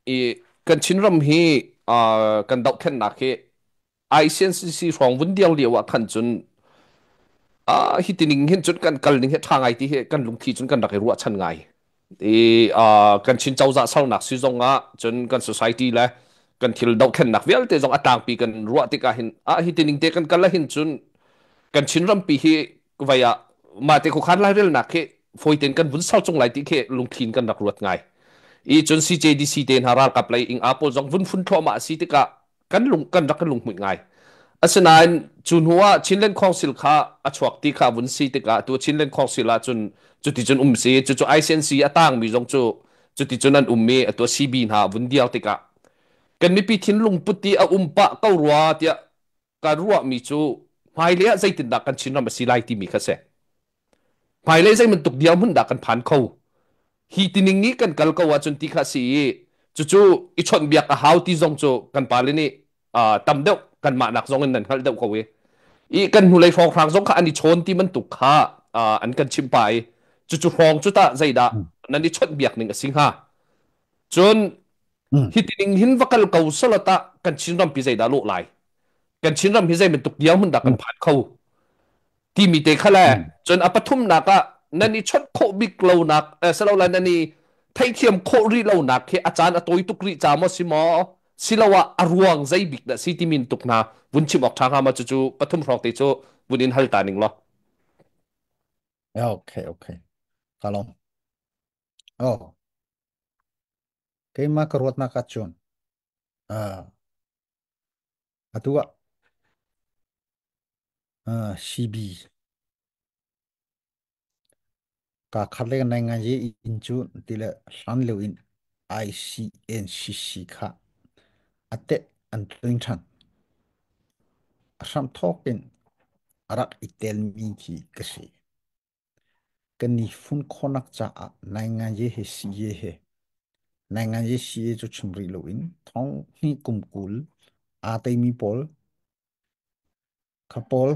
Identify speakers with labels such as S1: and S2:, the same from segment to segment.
S1: I kan Chinram hi uh, kan dohthlennak hi ICNCC hrawng vun diang lio ah khan cun uh, hi tining hin cun kan kal ning he tha ngai ti hi kan lungthi cun kan rak i ruah chan ngai i uh, kan Chin cozah salnak si zong ah cun kan society le kan thil dohthlennak vialte zong a tlangpi kan ruah tikah hin ah hi tining te kan kal hin cun kan Chin rampi hi vai ah mah te khan lairelnak khi foi ten kan vun sau chung lai ti khi lungthin kan rak ruat ngai i cun CJDC te hna ralkap lei ing a pawl zong vun phun thluah ma si tikah kan lung kan rak kan lungmuit ngai asinain cu hnu ah Chinland Council kha a chuak ti kha vun si tikah tu Chinland Council ah cun cuti cun um si cu cu ICNC a tang mi zong cu cuti cun an um mi atua CB hna vun diau tikah kan mipi thin lungput ti a um pa ko rua tiah kan ruahmi cu hmailei ah zeitindah kan Chinram a si lai timi kha si. Hmailei zei bantuk dirhmun dah kan phan kho. Hi tining nih kan kal ko ahcun ti kha si i cucu i chawnhbiak a hau ti zong cu kan pale nih uh, tam deuh kan mahnak zong in nan hngalh deuh ko i i kan hnulei hrawnghrang zong kha an i chawn ti bantuk kha uh, an kan chimpa i cucu hrawng cu tah zeidah nan i chawnhbiak ning a si hnga Cun mm, hitining hin va kal ko sala tah kan Chinram pi zeidah lawh lai? Kan Chinram hi zei bantuk dirhmun dah kan mm, phan kho? Timi te kha le mm, cun a pathumnak ah nan i chawnh khawh bik lonak eh, si lo la nan i theithiam khawh rih lonak hi a caan a tawi tuk rih ca maw si maw siloah a ruang zei bik dah si timin tuk hna vun chim awk ṭha hnga ma cucu pathum hrawk te cu vun in hal ta ning law.
S2: okay, okay. Kalong. Oh, keimah ka ruatnak ahcun ah, atu ah ah, CB ka khat le nai ngai ye in cu ti le hlan leu in ICNCC kha ate an tling than a hram thawk in a rak i tel mi khi ka si Kan i fun khawhnak caah nai ngaye he si ye he. Nai ngaye si ye cu chim rih loin thong hi kum kul aa teimi pawl kha pawl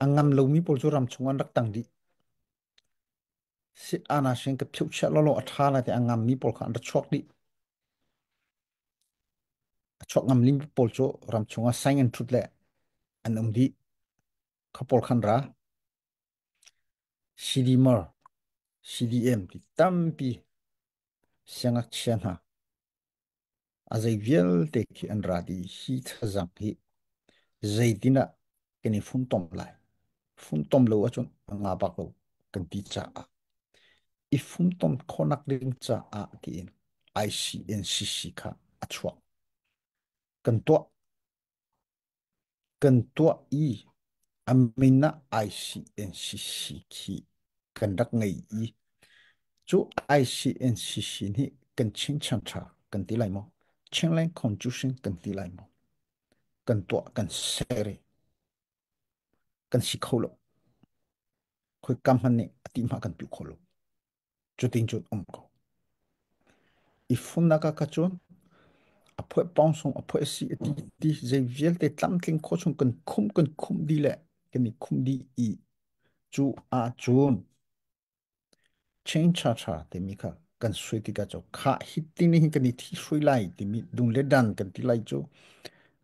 S2: a ngam lomi pawl cu ram chung an rak tang dih. Si ana sin ka philh chiah lolo a tha la ti a ngam mi pawl kha an ra chuak dih. A chuak ngam lim pawl cu ram chung ah sign and truth le an um dih. Khapol khan ra. CDMR, CDM ti tampi siangakchia hna a zei vialte khi an ra di hi thazang hi zeitin ah kan i funtom lai funtom lo ahcun nga bak lo kan ti caah i funtom khawnak ding caah tiin ICNCC kha a chuak kan tuah kan tuah i a min ah ICNCC khi kan rak ngei i cu ICNCC nih kan ching chanṭha kan ti lai maw? Chinland Constitution kan ti lai maw? Kan tuah kan sere kan si kho lo. Khoi kam hman nih a ti hma kan piu kho lo. cutin cun um ko i funnak ah ka cun a phoe pong sung a phoe si ti ti zei vialte tlamtling kho chung kan khum kan khum di le kan i khum di i cu a cun change tha tha timi kha kan sui tika cho kha hit ti ni hin kan i thi sui lai timi dung le dan kan ti lai chu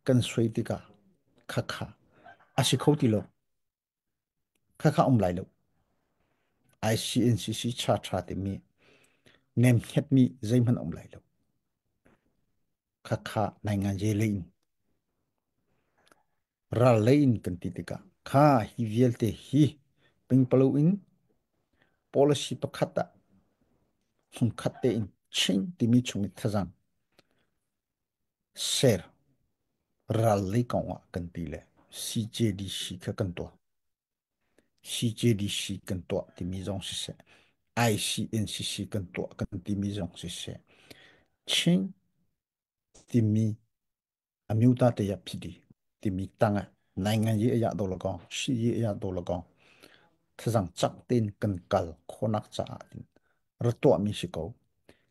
S2: kan sui tika kha kha a si kho ti lo kha kha um lai lo ICNCC cha tha timi nem het mi zeihman um lai lo kha kha naingan je lein ral lein kan ti tika kha hi vialte hi pingpalo in policy pakhat ah hum khat te in ching timi chung thazam Ser rallei kong ah kan ti le CJDC kha kan tuah. CJDC kan tuah timi zong siseh, ICNCC kan tuah kan timi zong siseh, Chin timi amyuta te ya phidi timi tang ah nai ngan ye ya do la kong, si ye ya do la kong, thazang chak ten kan kal khonak caah rak tuahmi si ko.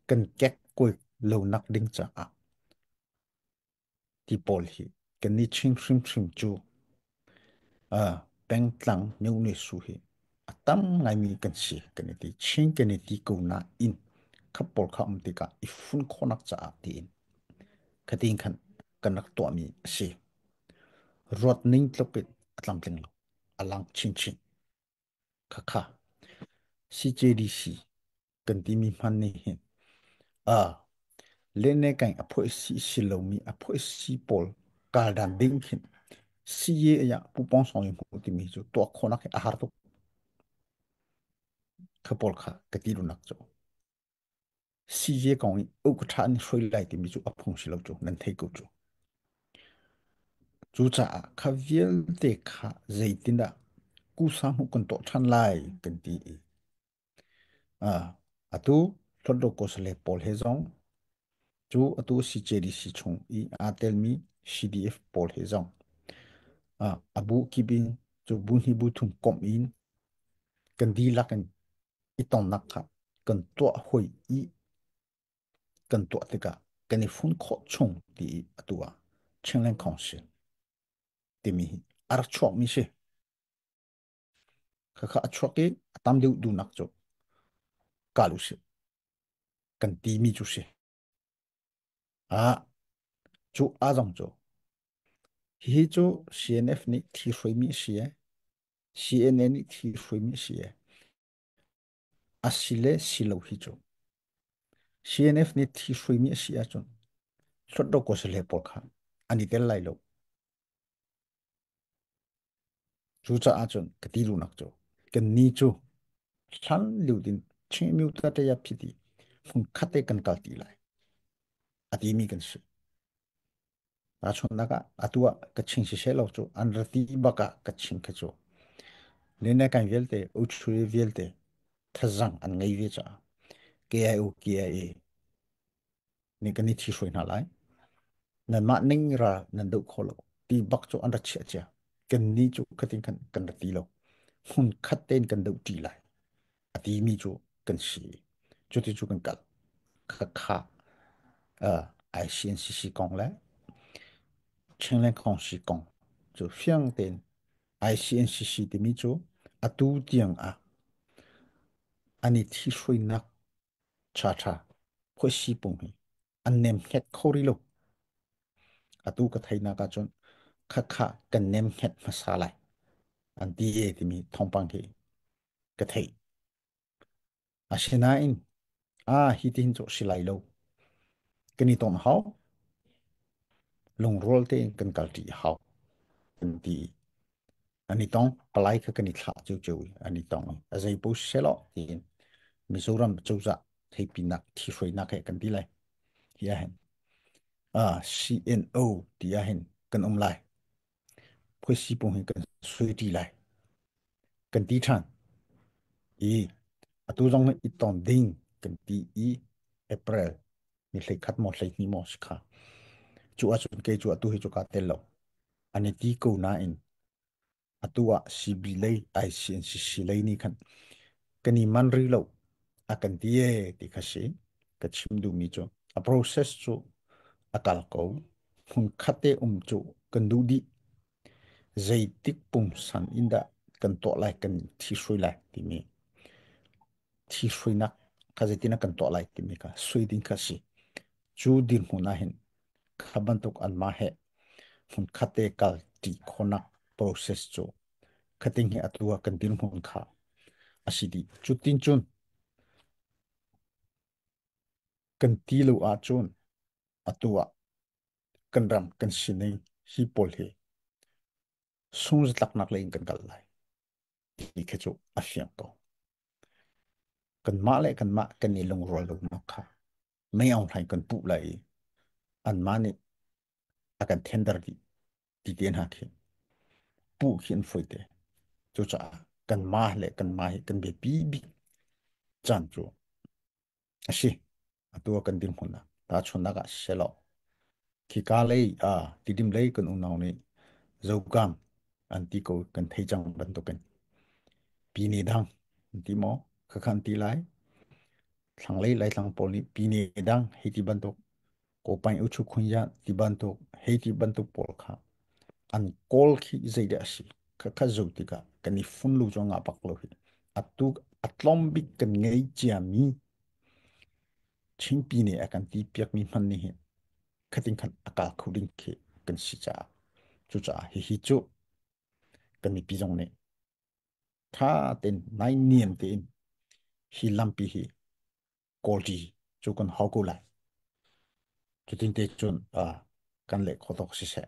S2: Kan kek kul lo nak ding caah ti pawl hi kan ni ching hrimhrim cu uh, pengtlang meune su hi a tam ngaimi kan si kan i ti ching kan i ti ko na in khapol kha am tika i fun khonak caah ti in khatin khan kan rak tuahmi a si ruat ning tluk it atlam tling lo alang chin chin Khakha. CJDC kan timi hman nih hin a lene kan apoi si si lomi apoi si pawl kaldan ding khin CA ya pupong song yu mu timi chu tua khonak hi ahar tuk khapol kha kati lunak chu Size kong in uk a ṭha an i hruai lai timi cu a phung si lo cu, nan thei ko cu. Cucaah kha vialte kha zeitindah kusa hmuh kan tuah ṭhan lai kan ti i atu Hlodokosale pawl he zong cu atu CJDC chung i aa telmi CDF pawl he zong a bu kip in cu bu hnih bu thum komh in kan dihlak in i tonnak kha kan tuah hoi i kan tuah tikah kan i fun khawh chung ti i atu ah Chinland Council timi hi ar chuakmi si khakha a chuak i a tam deuh dunak cu kalu si kan timi cu si Ah, cu a zong cu. Hihi cu CNF nih thi hruaimi a si e. CNN nih thi hruaimi a si e. A si le si lo hi cu. CNF nih thi hruaimi a si ahcun, hlawt lo ko si le pawl kha an i tel lai lo. Cucaah cun ka ti lunak cu kan ni cu hlan liu din ching miu ta te ya phi ti fung khat te kan kal ti lai a ti mi kan si a chunnak ah atu ah ka ching si se lo cu an rati bak ah ka ching khe cu le ne kan vialte uchuri vialte thazang an ngei ve cha KIO KIA ning kan i thi hruai hna lai nanmah ning ra nan doh kho lo ti bak cu an ra chia chia kan ni cu khatin kan kan ra ti lo hun khat tein kan doh ṭi lai a ti mi cu kan si cu ti cu kan kal kha kha ICNCC kong le Chengleng kong si kong cu fiang tein ICNCC timi cu atu tiang ah an i thi hruainak Thatha, phuisi pung hi an nem hnet kho ri lo. Atu ka thainak ah cun khakha kan nem hnet hmasa lai. An ti e timi thongpang hi ka thei. Asinain, ah hi tihin cu silai lo. Kan i ton hau. Lungrual te kan kalti hau. An ti. Ani tong palai kha kan i thlah cu cu ani tong a zei po selo tiin Mizoram cozah theipinak thihruainak he kan ti lai hi a hen ah CNO ti a hen kan um lai phoisi pung hin kan sui ti lai kan ti than i atu zong i ton ding kan ti i April ni hlei khat maw hlei hnih maw si kha cu ahcun ke cu atu hi cu ka tel lo ani ti ko nain atu ah CB lei IC an si si lei ni khan kan i man ri lo a kan ti e ti kha si ka chim duhmi cu a process cu a kal ko hmun khat te um cu kan duh dih Zeitik pungsan in dah kan tuah lai kan thihhrui lai timi thihhruinak kha zeitin ah kan tuah lai timi kha sui ding kha a si. Cu dirhmun ahhin kha bantuk anmah he hmun khatte kal ṭi khawnak process cu khating he atlua kan dirhmun kha a si dih. Cutin cun kan ti lo ahcun atu ah kan ram kan sining hi pawl hi sunghzatlaknak lei in kan kal lai ti khi cu a fiang ko kanmah le kanmah kan i lungrual lonak kha mei aunghlain kan puh lai i anmah nih a kan tender dih ti te hna khi puh khi an foite cucaah kanmah le kanmah hi kan biapi bik caan cu a si atu kan dirhmun ah tahchunhnak ah selaw khika lei ah tidim lei kan unau nih zokam an ti ko kan thei cang bantukin pi ne dang ti mo khakhan ti lai thlang lei lai thlang pawl nih pi ne dang hiti bantuk Kopain uchu khunya ti bantuk hei ti bantuk pawl kha an kawl khi zei dah si kha kha zo tikah kan i fun lu cho nga pak lo hi atu atlom bik kan ngei chia mi chingpi ne a kan ti piak mi hman ni hi khating khan akal khu ding khi kan si cha chu cha hi hi chu kan mi pi zong nih tha ten nai niam tein hi lampi hi kawlti cu kan hau ko lai. Cutin te cun kan leh khawdok siseh,